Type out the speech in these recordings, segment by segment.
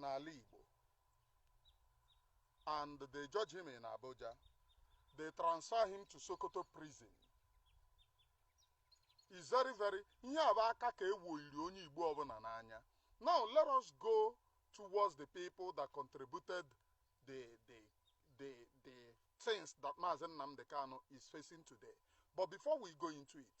n'ala Igbo and they judge him in Abuja. They transfer him to Sokoto prison. Is very very ihe a bụ aka ka ewoyiri onye Igbo ọbụla n'anya. Now let us go towards the people that contributed the the the the things that Mazi Nnamdi Kanu is facing today. But before we go into it,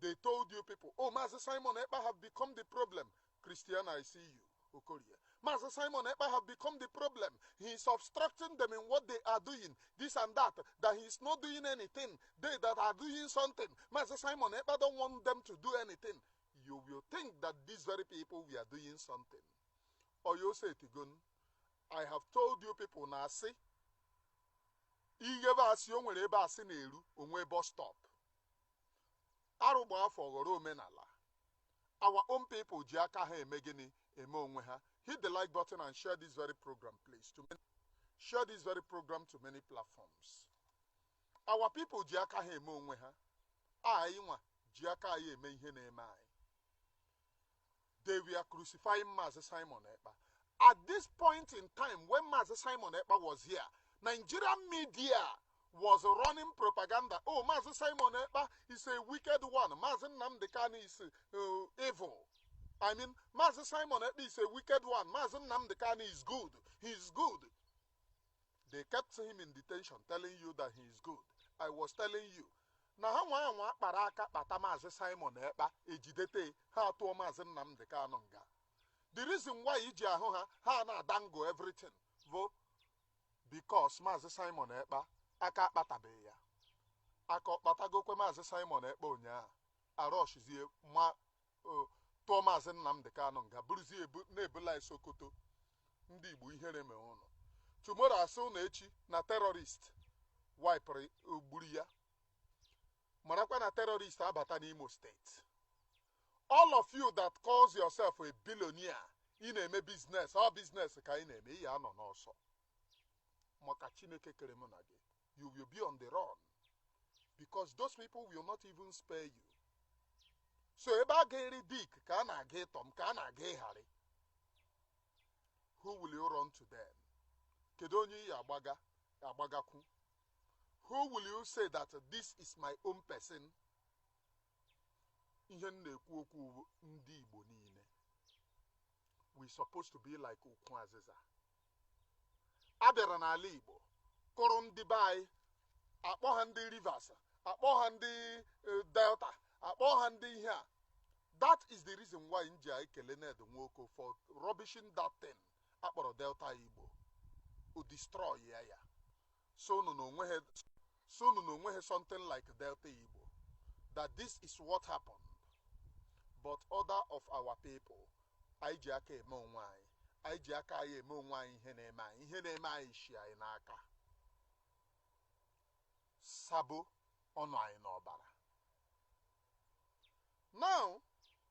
they told you people oh maazị simon ekpa have become the problem christian i see you okorie maazị simon ekpa have become the problem he is obstructing them in what they are doing this and that that he is not doing anything they that are doing something maazị simon ekpa don't want them to do anything you will think that these very people we are doing something or you say tigon i have told you people na asị ighebe asị o nwere ebe asị na-eru onwe bus stop arụ gbaa afọ ọ ghọrọ omenala our own people ji aka ha eme gịnị eme onwe ha hit the like button and share this very program please to many, share this very program to many platforms our people ji aka ha eme onwe ha anyị nwa ji aka anyị eme ihe na-eme anyị they were crucifying Mazi Simon Ekpa. At this point in time, when Mazi Simon Ekpa was here, Nigerian media was running propaganda. Oh, Mazi Simon Ekpa is a wicked one. Mazi Nnamdi Kanu is uh, evil. I mean, Mazi Simon Ekpa is a wicked one. Mazi Nnamdi Kanu is good. He is good. they kept him in detention telling you that he is good i was telling you na ha nwa ya nwa akpara aka kpata maazị simon ekpa e jidete ha atụọ maazị nnamdị kanụ nga the reason why i ji ahụ ha ha na-ada ngụ everything bụ because maazị simon ekpa aka akpatabeghị ya aka ọ kpatagokwe maazị simon ekpa ụnyaahụ arọshizie ma tụọ maazị Nnamdị Kanụ nga buruzie na-ebula ya Sokoto ndị Igbo ihere mee ụnụ tomorrow a sị ụnụ echi na terrorist wipụrụ gburu ya marakwa na terrorist abata n'Imo steeti all of you that calls yourself a billionaire ị na-eme business ọ business ka ị na-eme ị ya anọ n'ọsọ maka Chineke kere mụ na gị you will be on the run because those people will not even spare you so ebe a ga-eri Dick ka a na-aga iri Tom ka a na-aga iri Harry who will you run to them kedu onye ị ya agbagakwu who will you say that this is my own person ihe m na-ekwu okwu ndị Igbo niile we supposed to be like ukwu azịza a bịara n'ala Igbo kụrụ ndị be anyị akpọ ha ndị Rivers akpọ ha ndị eh, Delta akpọ ha ndị ihe a that is the reason why m ji ekele Ned Nwoko for rubbishing that thing a kpọrọ Delta Igbo o destroy ya ya Sị unu na o nweghị sị unu na o nweghị something like Delta Igbo that this is what happened but other of our people anyị ji aka eme onwe anyị anyị ji aka anyị eme onwe anyị ihe na-eme anyị ihe na-eme anyị shi anyị n'aka sabo ọ nọ anyị n'ọbara now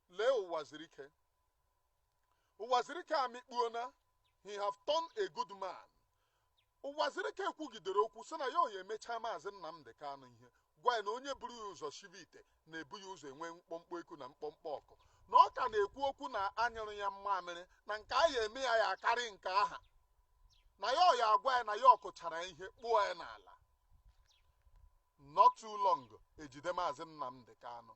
lee Uwazuruike Uwazuruike amịkpuona he have turned a good man Uwazuruike kwugidere okwu sị na ya ya emecha maazị Nnamdi Kanu ihe gwa ya na onye buru ya ụzọ shibe ite na-ebu ya ụzọ enwe mkpọmkpọ eku na mkpọmkpọ ọkụ na ọ ka na-ekwu okwu na a nyụrụ ya mmamịrị na nke a ya eme ya ya akarị nke aha na ya ya agwa ya na ya kụchara ya ihe kpụọ ya n'ala Not too long e jide Maazị Nnamdi Kanu.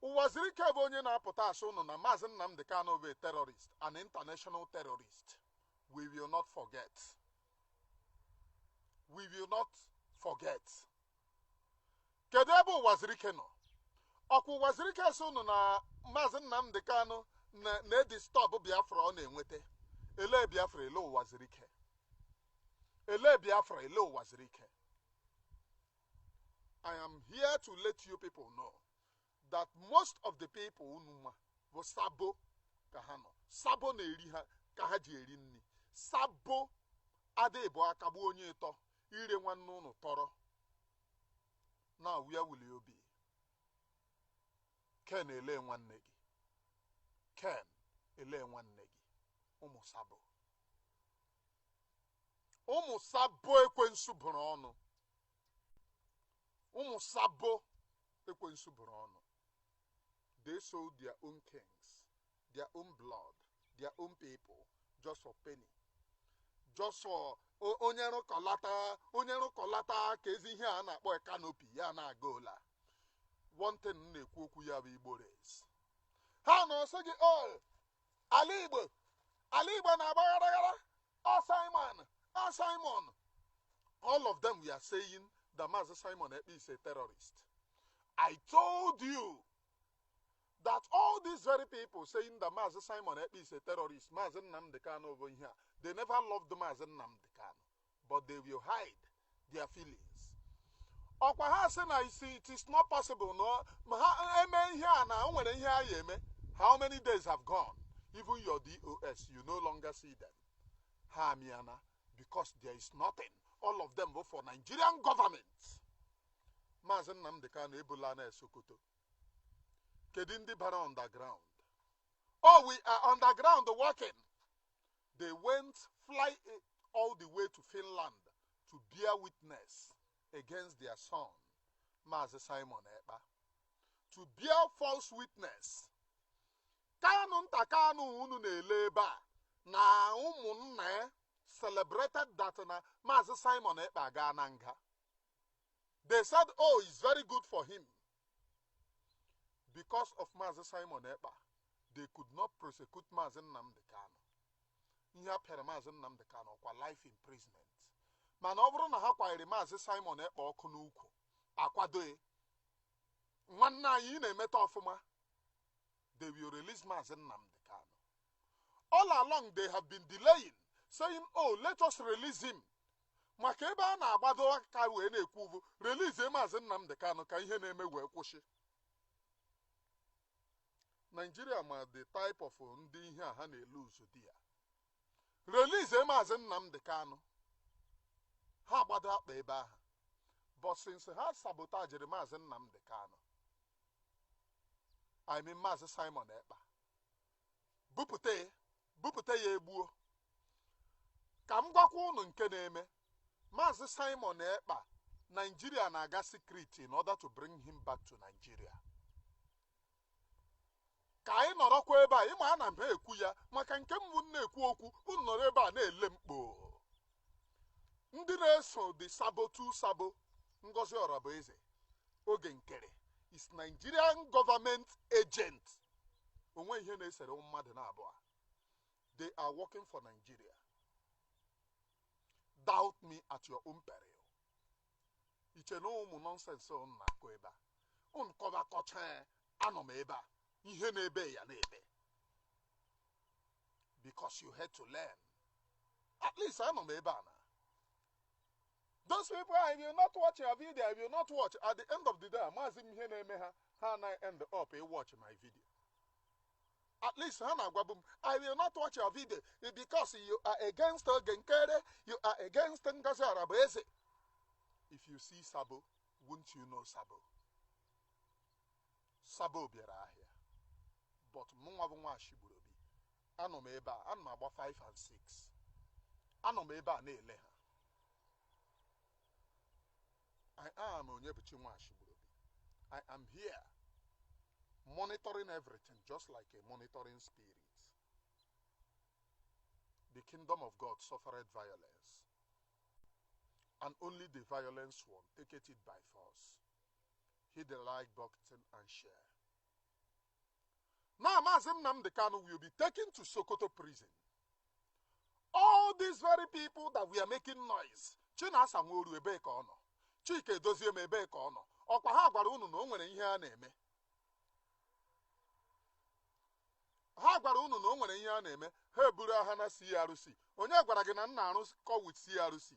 Uwazuruike bụ onye na-apụta asị ụnụ na Maazị Nnamdi Kanu bụ a terrorist, an international terrorist. We will not forget. We will not forget. Kedu ebe Uwazuruike nọ? Ọkwa Uwazuruike asị ụnụ na Maazị Nnamdi Kanu na-edisturb Biafra ọ na-enweta. Elee Biafra elee Uwazuruike. Elee Biafra, elee Uwazuruike. I am here to let you people know that most of the people unu ma bụ sabo ka ha nọ sabo na-eri ha ka ha ji eri nri sabo adịghị bụ akagbu onye ịtọ ire nwanne unu tọrọ na wia wuli obi Ken elee nwanne gị Ken elee nwanne gị ụmụ sabo ụmụ sabo ekwensu bụrụ ọnụ ụmụ sabo ekwensu bụrụ ọnụ they sold their own kins their own blood their own people just for penny just for o- onye rụkọlata onye rụkọlata ka ezi ihe a na-akpọ canopy ya na-aga ụla one thing m na-ekwu okwu ya bụ igbo race ha na ọsị gị o ala igbo ala igbo na-agba gharaghara ọ simon ọ simon all of them were saying that maazị simon ekpa is a terrorist i told you that all these very people saying that Mazi Simon Ekpa is a terrorist, Mazi Nnamdi Kanu ọ bụ ihe a, they never loved Mazi Nnamdi Kanu. but they will hide their feelings ọkwa ha sị na isi it is not possible no ma ha eme ihe a na o nwere ihe a ya eme how many days have gone even your DOS you no longer see them ha amịana because there is nothing all of them bụ for nigerian government maazị nnamdị kanu ebula na sokoto kedu ndị bara underground oh we are underground working they went fly eh, all the way to Finland to bear witness against their son, Mazi Simon Ekpa, to bear false witness. Kanunta Kanu unu na-ele ebe a na ụmụnna ya eh, celebrated that na Mazi Simon Ekpa agaana nga. They said, oh, it's very good for him. because of Maazị Simon Ekpa they could not prosecute Maazị Nnamdi Kanu ihe a pịara Maazị Nnamdi Kanu ọkwa life imprisonment mana ọ bụrụ na ha kwanyere Maazị Simon Ekpa ọkụ n'ukwu akwado ya nwanne anyị ị na-emeta ọfụma they will release Maazị Nnamdi Kanu all along they have been delaying saying oh let us release him maka ebe ha na-agbado aka wee na-ekwu ọ bụ release maazị Nnamdi Kanu ka ihe na-eme wee kwụsị Naijiria ma the type of ndị ihe a ha na-ele ụzọ dị ya release maazị Nnamdi Kanu ha agbado akpa ebe ahụ but since ha sabotajiri maazị Nnamdi Kanu I mean maazị Simon Ekpa bupụta ya bupụta ya egbuo ka m gwakwa ụnụ nke na-eme maazị simon ekpa naijiria na-aga secret in order to bring him back to nigeria ka anyị nọrọkwa ebe a ịma ana m ha ekwu ya maka nke mbụ m na-ekwu okwu unu nọrọ ebe a na-ele mkpo ndị na-eso the sabo two sabo ngozi orabueze oge nkere is nigerian government agent o nweghị ihe na-esere mmadụ na abụọ they are working for nigeria doubt me at your own peril iche na ụmụ nonsense ụnụ na-akọ ebe a ụnụ kọba kọcha anọ m ebe a ihe na-ebe ya na-ebe because you had to learn at least anọ m ebe a na those people I will not watch your video I will not watch at the end of the day amaghịzi m ihe na-eme ha ha na end up ị watch my video at least ha na-agwabu m I will not watch your video because you are against Oge Nkere you are against Ngozi Orabueze if you see Sabo won't you know Sabo Sabo bịara ahịa but mụnwa bụ nwa Ashigburobi anọ m ebe a ana m agba 5 and 6 anọ m ebe a na-ele ha I am Onyebuchi nwa Ashigburobi I am here monitoring everything just like a monitoring spirit the kingdom of God suffered violence and only the violence one take it by force hit the like button and share. Now, Mazi Nnamdi Kanu will be taken to Sokoto prison. All these very people that were making noise, Chinasa Nworu ebe ka ọ nọ, Chika Edoziem ebe ka ọ nọ, ọkwa ha gwara unu na o nwere ihe a na-eme. ha gwara unu na o nwere ihe a na-eme ha eburu aha na CRC onye gwara gị na m na-arụkọ with CRC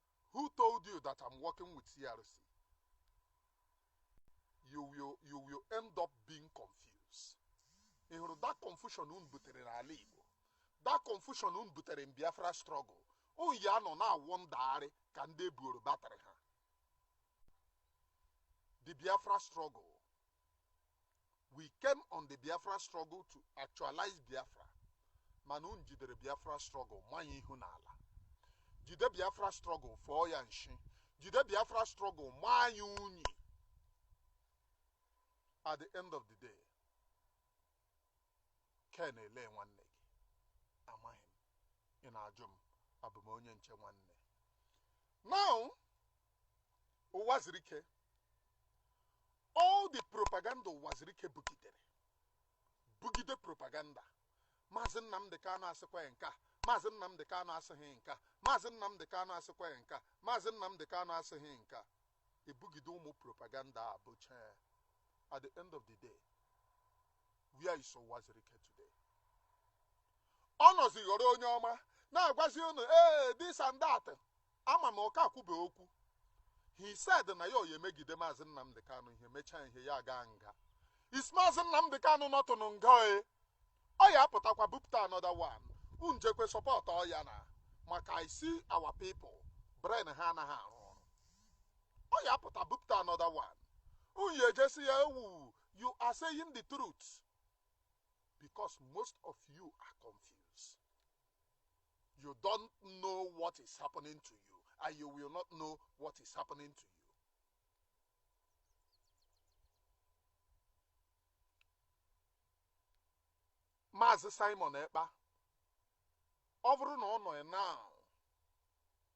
Who told you that I'm working with CRC? You will, you will end up being confused. Ị hụrụ that confusion unu butere n'ala Igbo, that confusion unu butere in Biafra struggle, unu ya-anọ na-awụ ndagharị ka ndị e buoro batrị ha. The Biafra struggle We came on the Biafra struggle to actualize Biafra mana unu jidere Biafra struggle maa ya ihu n'ala. Jide Biafra struggle fọọ ya nshi. Jide Biafra struggle maa ya unyi. At the end of the day, Ken elee nwanne gị amaghị m ị na-ajụ m abụ m onye nche nwanne now ụwazuruike all the propaganda ụwazuruike bugidere bugide propaganda maazị nnamdị kanụ asịkwa ya nke a maazị nnamdị kanụ asịghị nke a maazị nnamdị kanụ asịkwa ya nke a maazị nnamdị kanụ asịghị nke a ebugide ụmụ propaganda a bụcha ya. at the end of the day where is ụwazuruike today ọ nọzi ghọrọ onye ọma na-agwazi unu ee this and that Ama m ọ ka ekwube okwu. He said na ya ọ ya emegide Maazị Nnamdi Kanu ihe mechaa ihe ya agaa nga. Is Maazị Nnamdi Kanu not in nga e? Ọ ya apụtakwa bupụta another one. Unu jekwe support ọ ya na maka I see our people brain ha anaghị arụ ọrụ. Ọ ya apụta bupụta another one. Unu ya eje sị ya ewu you are saying the truth because most of you are confused. You don't know what is happening to you, and you will not know what is happening to you. Maazị Simon Ekpa ọ bụrụ na ọ nọ now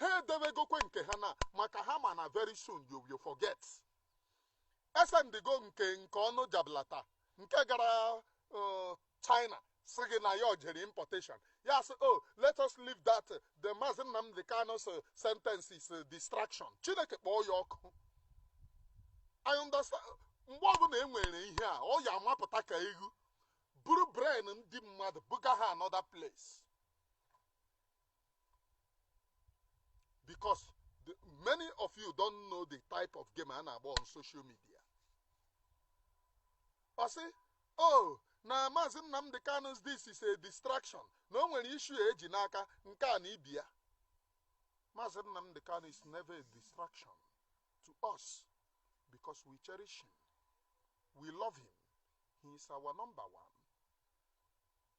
ha edewegokwe nke ha na maka ha ma na very soon you will forget e sendigo nke nke ọnụ jablata nke gara uh, china sị gị na ya jere importation ya sị oh let us leave that uh, the maazị nnamdị kanu's uh, sentence is uh, distraction chineke kpọọ ya ọkụ i understand mgbe ọbụla e nwere ihe a ọ ya amapụta ka ewu buru brain ndị mmadụ buga ha another place because the, many of you don't know the type of game a na-agba on social media ọ sị oh na maazị Nnamdi Kanu's this is a distraction na o nwere issue e ji n'aka nke a na ibi ya maazị Nnamdi Kanu is never a distraction to us because we cherish him we love him he is our number one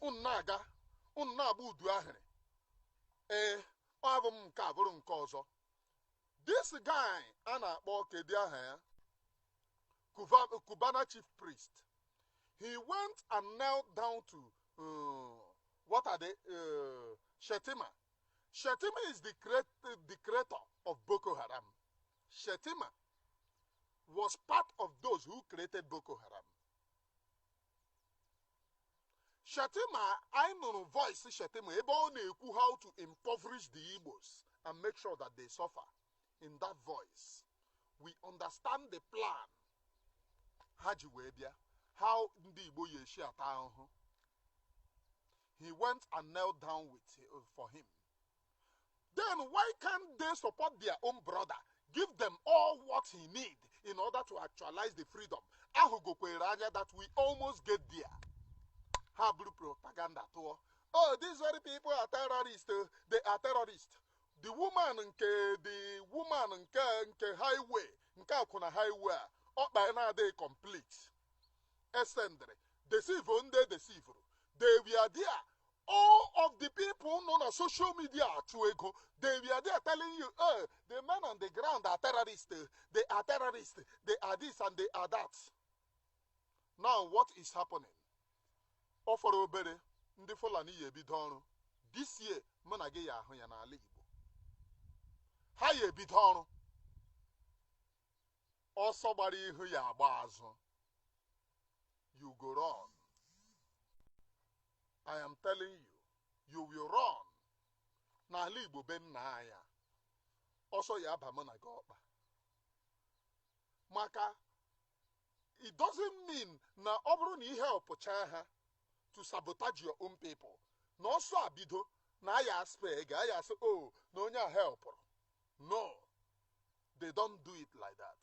unu na-aga unu na-agba udu ahịrị ee ọ abụ m nke a bụrụ nke ọzọ this guy a na-akpọ kedu aha ya Cuba- Cubana chief priest he went and knelt down to uh, what are they uh, Shettima Shettima is the creat the creator of Boko Haram Shettima was part of those who created Boko Haram Shettima anyị nụrụ voice Shettima ebe ọ na-ekwu how to impoverish the Igbos and make sure that they suffer in that voice we understand the plan ha ji wee bịa how ndị Igbo ya eshi ata ahụhụ he went and knelt down with uh, for him Then why can't they support their own brother? Give them all what he need in order to actualize the freedom. A hụgokwere anya that we almost get there. Ha buru propaganda tụọ. Oh, these very people are terrorists. Oh. They are terrorists. The woman nke the woman nke nke highway nke akwụna highway a ọkpa na-adịghị complete. E sendere. Deceive ndị deceivuru. They were there all of the people nọ na social media achụ ego they were there telling you eh, the men on the ground are terrorists eh, they are terrorists they are this and they are that now what is happening ọ fọrọ obere ndị fulani ya ebido ọrụ this year mụ na gị ya ahụ ya n'ala igbo ha ya ebido ọrụ ọsọ gbara ihu ya agba azụ you go run I am telling you you will run n'ala Igbo be nna anyị a, ọsọ ya aba mụ na gị ọkpa maka it doesn't mean na ọ bụrụ na i helpụcha ha to sabotage your own people na ọsọ abido na a ya aspare gị a ya asị o na onye a helpụrụ no they don't do it like that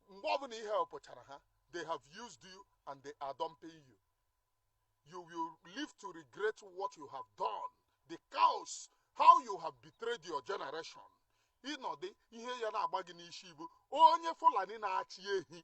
mgbe ọbụla i helpụchara ha they have used you and they are dumping you you will live to regret what you have done the cause how you have betrayed your generation ị nọdụ ihe ya na-agba gị n'isi bụ onye fulani na-achị ehi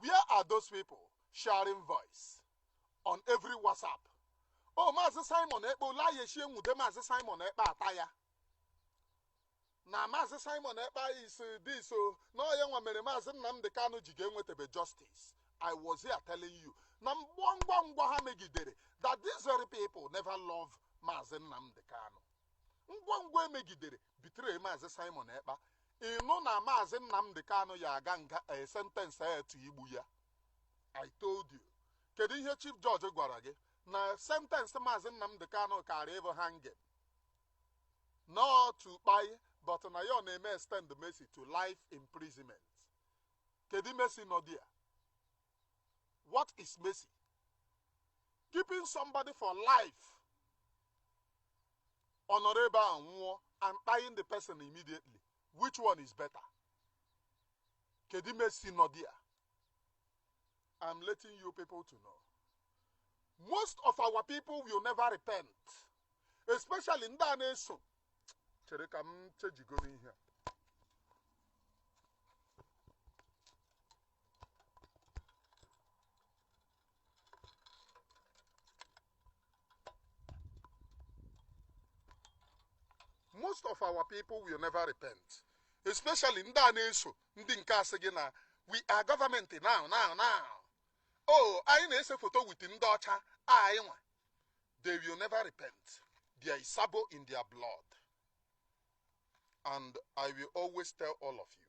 where are those people sharing voice on every whatsapp o maazị simon ekpa olayechie nwude maazị simon ekpa ata ya na maazị simon ekpa is this o na ọ ya nwa mere maazị nnamdị kanụ ji ga-enwetebe justice i was here telling you na ngwa ngwa ngwa ha megidere that these very people never love maazị nnamdị kanụ ngwa ngwa emegidere betray maazị Simon Ekpa ịnụ na maazị Nnamdi Kanu ya aga nga a sentence etu igbu ya I told you kedu ihe chief judge gwara gị na sentence maazị Nnamdi Kanu kara ịbụ hanging not to kpai but na ya na-eme extend mercy to life imprisonment kedu mercy nọ there What is mercy? Keeping somebody for life ọ nọrọ ebe ahụ nwụọ and kpaiing the person immediately which one is better kedu mercy nọ there i'm letting you people to know most of our people will never repent especially ndị a na-eso chere ka m chejigo n'ihe a most of our people will never repent especially ndị a na-eso ndị nke asị gị na we are government now now now oh anyị na-ese foto with ndị ọcha anyị nwa they will never repent there is sabo in their blood and i will always tell all of you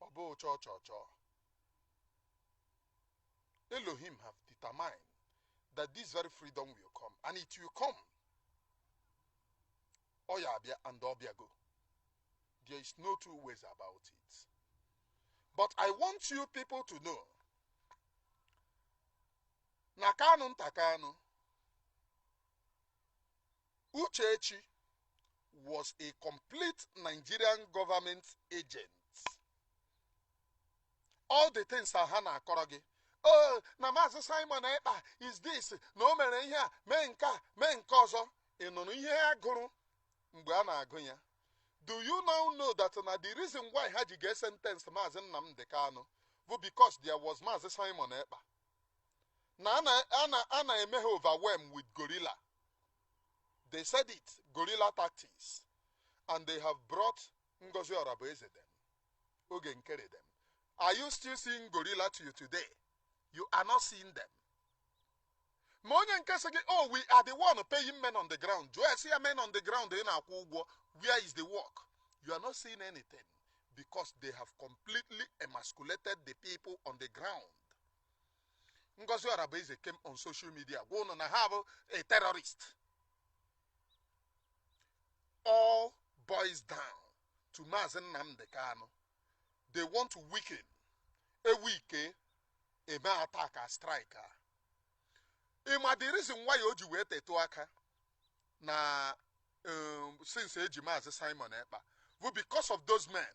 ọ bụ cho cho cho Elohim have determined that this very freedom will come and it will come ọ ya abịa and ọ bịago there is no two ways about it but I want you people to know na Kanunta Kanu Uchechi was a complete Nigerian government agent. All the things ha na-akọrọ gị oh na maazị Simon Ekpa is this na o mere ihe a mee nke a mee nke ọzọ ị nụrụ ihe a gụrụ mgbe a na-agụ ya do you now know that na the reason why ha ji ga sentence maazị Nnamdi Kanu bụ because there was maazị Simon Ekpa na a na-eme ha overwhelm with gorilla they said it gorilla tactics and they have brought Ngozi Orabueze them oge nkere them are you still seeing gorilla to you today you are not seeing them ma onye nke sị gị oh we are the one paying men on the ground jụọ esi ya men on the ground ị na-akwụ ụgwọ where is the work you are not seeing anything because they have completely emasculated the people on the ground Ngozi Orabueze came on social media gwa ụnụ na ha bụ a terrorist all boys down to Maazị Nnamdi Kanu they want to weaken e nwee ike eme attack a strike a ị ma the reason why o ji wee tetụ aka na um, since eji Maazị Simon Ekpa bụ because of those men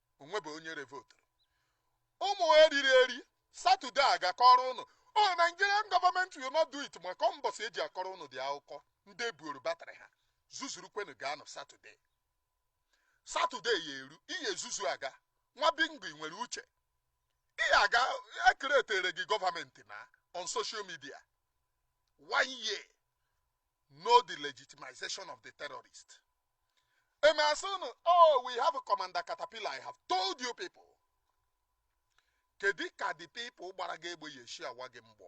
o nwebe onye revoturu ụmụ eriri eri satọde a ga-akọrọ ụnụ o oh, Nigerian government will not do it maka mbọsị eji akọrọ ụnụ ụdị akụkọ ndị ebuoro batrị ha zuzuru kwenu ga-anọ satọde satọde ya eru ihe ezuzu aga nwa bingo nwere uche ihe a ga-ecreatere gị government na on social media one year no the legitimization of the terrorist. E mee a sị unu, oh, we have commander Caterpillar. I have told you people. Kedu ka the people gbara gị egbe ya-eshi awa gị mgbọ?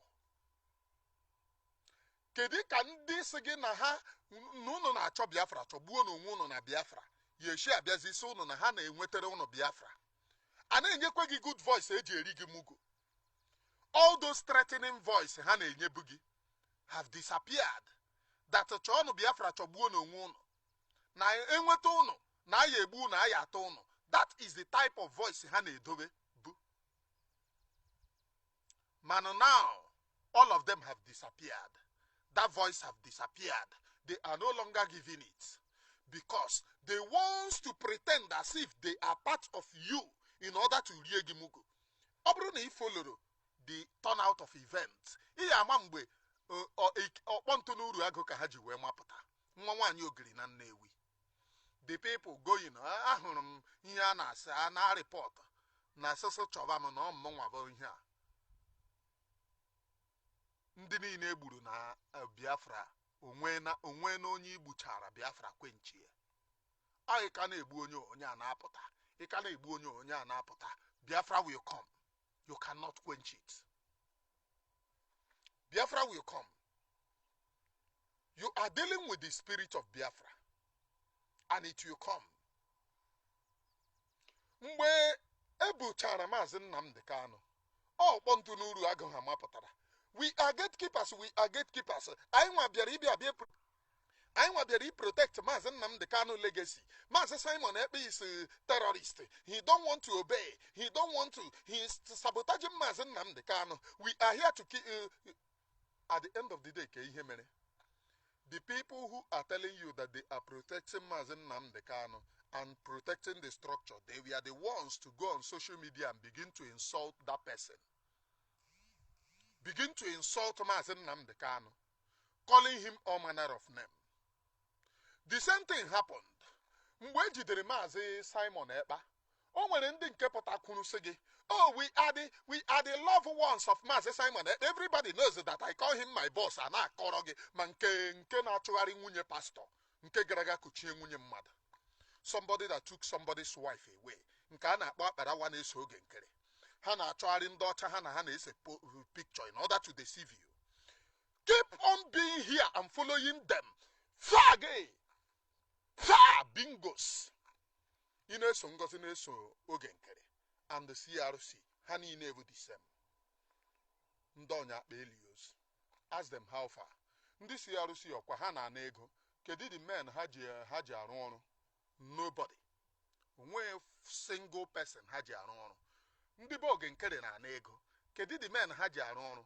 Kedu ka ndị sị gị na ha na unu na-achọ Biafra chọgbuo na onwe unu na Biafra ya-eshi abịazi ịsị unu na ha na-enwetara unu Biafra? A na-enyekwa gị good voice eji eri gị mugu. all those threatening voice ha na-enyebu gị have disappeared that chọọnụ biafra chọgbuonụ onwe ụnụ na e nweta ụnụ na a ya-egbu ụnụ a ya-atọ ụnụ that is the type of voice ha na-edobebu mana now all of them have disappeared that voice have disappeared they are no longer giving it because they want to pretend as if they are part of you in order to rie gị mugu ọ bụrụ na ị foloro the turnout of events ị ya-ama mgbe ọ- ọ- ik- ọkpọ ntụ n'Uruagu ka ha ji wee mapụta nwa nwaanyị ogiri na nnewi the people going "Ah, ahụrụ m ihe a na Sahara report na asụsụ chọba m na ọ mụnwa bụ ihe a ndị niile e gburu na eh, biafra onwe na onwe na onye i gbuchara biafra kwenchie ọ ị ka na-egbu onye onye a na-apụta ị ka na-egbu onye onye a na-apụta biafra will come you cannot quench it biafra will come you are dealing with the spirit of biafra and it will come mgbe e buchara maazị Nnamdi Kanu ọkpọ ntụ n'Uruagu ha mapụtara we are gatekeepers we are gatekeepers anyịnwa bịara ịbịa bịa pro- anyịnwa bịara ịprotect maazị Nnamdi Kanu legacy maazị Simon Ekpa is a terrorist he don't want to obey he don't want to he is sabotaging maazị Nnamdi Kanu we are here to ki- uh, at the end of the day ka ihe mere the people who are telling you that they are protecting Mazi Nnamdi Kanu and protecting the structure they were the ones to go on social media and begin to insult that person begin to insult Mazi Nnamdi Kanu calling him all manner of name the same thing happened mgbe e jidere Mazi Simon Ekpa o nwere ndị nke pụta kwuru sị gị oh we are the we are the love ones of Maazị Simon Ekpa everybody knows that I call him my boss a na-akọrọ gị ma nke nke na-achụgharị nwunye pastọ nke gara aga kuchie nwunye mmadụ somebody that took somebody's wife away nke a na-akpọ Akparawa na-eso Oge Nkere ha na-achọgharị ndị ọcha ha na ha na-ese picture in order to deceive you keep on being here and following them fag ha bingos ị na-eso ngozi na-eso oge nkere and the crc ha niile bụ the same ndị ọnya akpa eli ozu ask them how far ndị crc ọ kwa ha na-ana ego kedu the men ha ji ha ji arụ ọrụ nobody o nweghị single person ha ji arụ ọrụ ndị be oge nkere na-ana ego kedu the men ha ji arụ ọrụ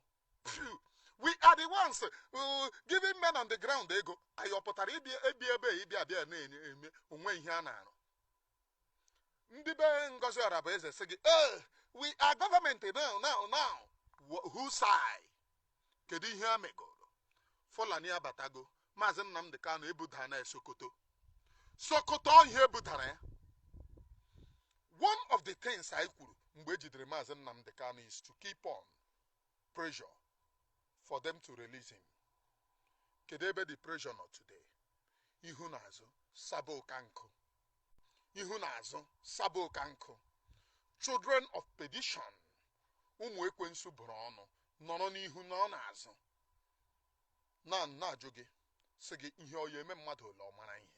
we are the ones uh, giving men on the ground ego anyị ọ pụtara ịbịa ebi ebe a ịbịa abịa na-eme o nwe ihe a na-arụ ndị be ngozi ọrabụeze sị gị ee eh, we are government now now now whose side kedu ihe a megoro fulani abatago maazị nnamdị kanu ebuda na sokoto sokoto ihe ebudara ya one of the things anyị kwuru mgbe e jidere maazị nnamdị kanu is to keep on pressure for them to release him kedu ebe the pressure nọ today ihu na azụ sabo ụka nkụ ihu na azụ sabo ụka nkụ children of perdition ụmụ ekwensu bụrụ ọnụ nọrọ n'ihu nọ n'azụ na na-ajụ gị sị gị ihe ọ ya eme mmadụ ole ọ mara ihe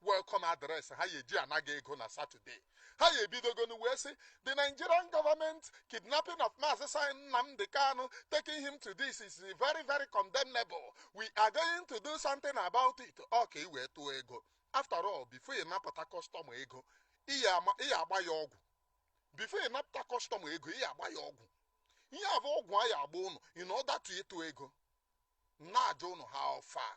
welcome address ha ya eji ana gị ego na satọde ha ya ebidogonu wee sị the nigerian government kidnapping of maazị sin nnamdị kanu taking him to this is very very condemnable we are going to do something about it ọ ka i wee tụọ ego after all before ị napụta customer ego ị ya agba ya ọgwụ before ị napụta customer ego ị ya agba ya ọgwụ ihe a bụ ọgwụ a ya agba ụnụ in order to ịtụ ego na-ajụ ụnụ how far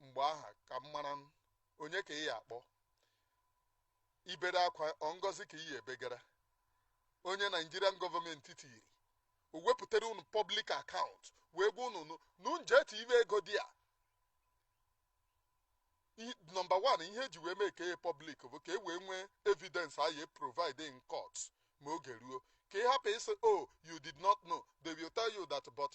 mgbe aha ka m mara onye ka ị ya akpọ ibere akwa ọ ngozi ka ị ya ebegara onye nigerian government tiri o wepụtara unu public account wee gwa unu unu je tiwe ego there number one ihe e ji wee make it public bụ ka e wee nwee evidence a ya provide in court ma oge ruo ka ị hapụ ịsị o oh, you did not know they will tell you that but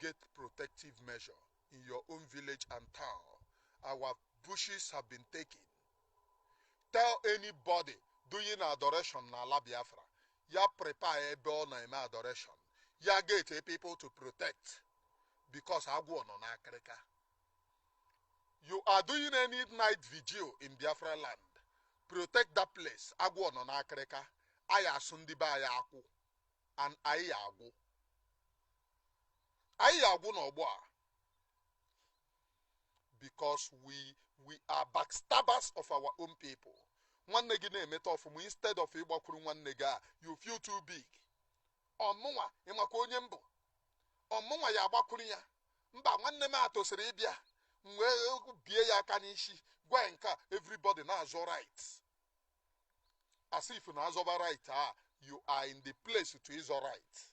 Get protective measure in your own village and town, our bushes have been taken. Tell anybody doing adoration na ala Biafra, ya prepare ebe ọ na-eme adoration, ya getie people to protect because agwọ nọ n'akịrịka. You are doing any night vigil in Biafra land, protect that place, agwọ nọ n'akịrịka, a ya asụ ndị be anyị akwụ and anyị ya agwụ. anyị ya agwụ n'ọgbọ a because we we are backstabbers of our own people nwanne gị na-emeta ọfụma instead of ịgbakwuru nwanne gị a you feel too big ọ mụnwa ị makwa onye m bụ ọ mụnwa ya agbakwuru ya mba nwanne m a tosiri ịbịa m wee bie ya aka n'isi gwa ya nke a everybody na-azọ right as if na azọba right a you are in the place to ịzọ right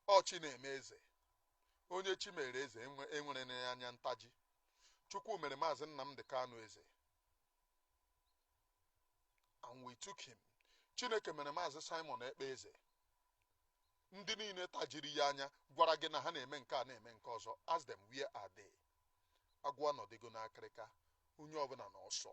ọ chi na-eme eze onye chi mere eze enwere na anya ntaji chukwu mere maazị nnamdị kanu eze and we took him chineke mere maazị simon ekpa eze ndị niile tajiri ya anya gwara gị na ha na-eme nke a na-eme nke ọzọ ask them where are they agwọ anọdịgo n'akịrịka onye ọbụla na ọsọ